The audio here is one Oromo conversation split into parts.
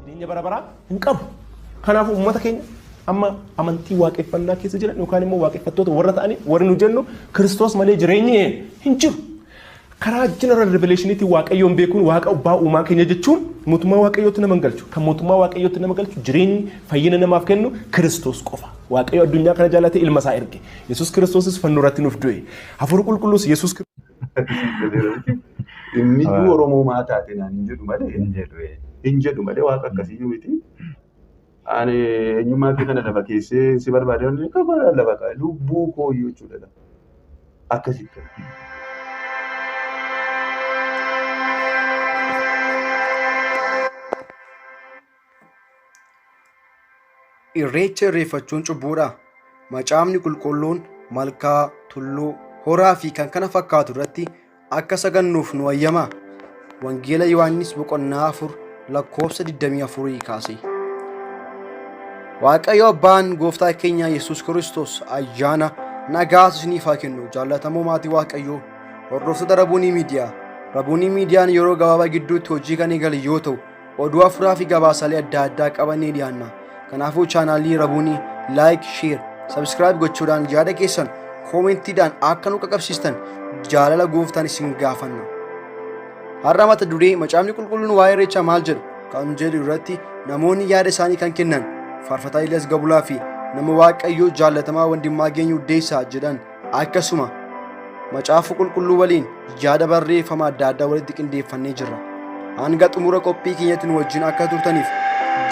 jireenya bara baraa hin qabu. Kanaafuu uummata keenya amma amantii waaqeffannaa keessa jiran yookaan immoo waaqeffattoota warra ta'anii warri nu jennu Kiristoos malee jireenyi hin jiru. Karaa general revelation'tiin Waaqayyoon beekuun Waaqa Abbaa Uumaa keenya jechuun mootummaa Waaqayyootti nama hin galchu. Kan mootummaa Waaqayyootti nama galchu jireenyi fayyina namaaf kennu Kiristoos qofa. Waaqayyo addunyaa kana jaallatee ilma isaa erge. Yesuus Kiristoosis fannoo irratti nuuf du'e. Hafuurri qulqulluus Yesuus Inni iyyuu Oromoo maa taate naan hin jedhu malee hin jedhu malee waaqa akkasiyyuu miti. Ani eenyummaa kee kana lafa keessee si barbaade waan ta'eef kabaadhaan lafa kaa'e lubbuu koo iyyuu jechuudha. Akkasitti. Irreecha irreeffachuun cubbuudha. Macaafni qulqulluun malkaa, tulluu, horaa fi kan kana fakkaatu irratti Akka sagannuuf nu hayyamaa? Wangeela Yohaannis boqonnaa 4 lakkoofsa 24 kaasee. Waaqayyo Abbaan Gooftaa keenya Yesuus Kiristoos ayyaana nagaa isiniif haa kennu jaallatamoo maatii Waaqayyoo hordoftoota Rabuunii Miidiyaa. Rabuunii Miidiyaan yeroo gabaabaa gidduutti hojii kan eegale yoo ta'u Oduu afuraa fi gabaasaalee adda addaa qabannee dhiyaanna. Kanaafuu chaanaalii Rabuunii laayik, sheer, sabskiraayib gochuudhaan yaada keessan koomentiidhaan akka nu qaqqabsiistan jaalala gooftaan isin gaafanna. Har'a mata duree macaafni qulqulluun waa'ee irreechaa maal jedhu kan jedhu irratti namoonni yaada isaanii kan kennan faarfataa Ilyas Gabulaa fi nama Waaqayyoo jaallatamaa Wandimmaa Geenyu Deessaa jedhan Akkasuma macaafa qulqulluu waliin yaada barreeffama adda addaa walitti qindeeffannee jirra. Hanga xumura qophii keenyatti nu wajjin akka turtaniif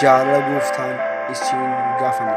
jaalala gooftaan isin gaafanna.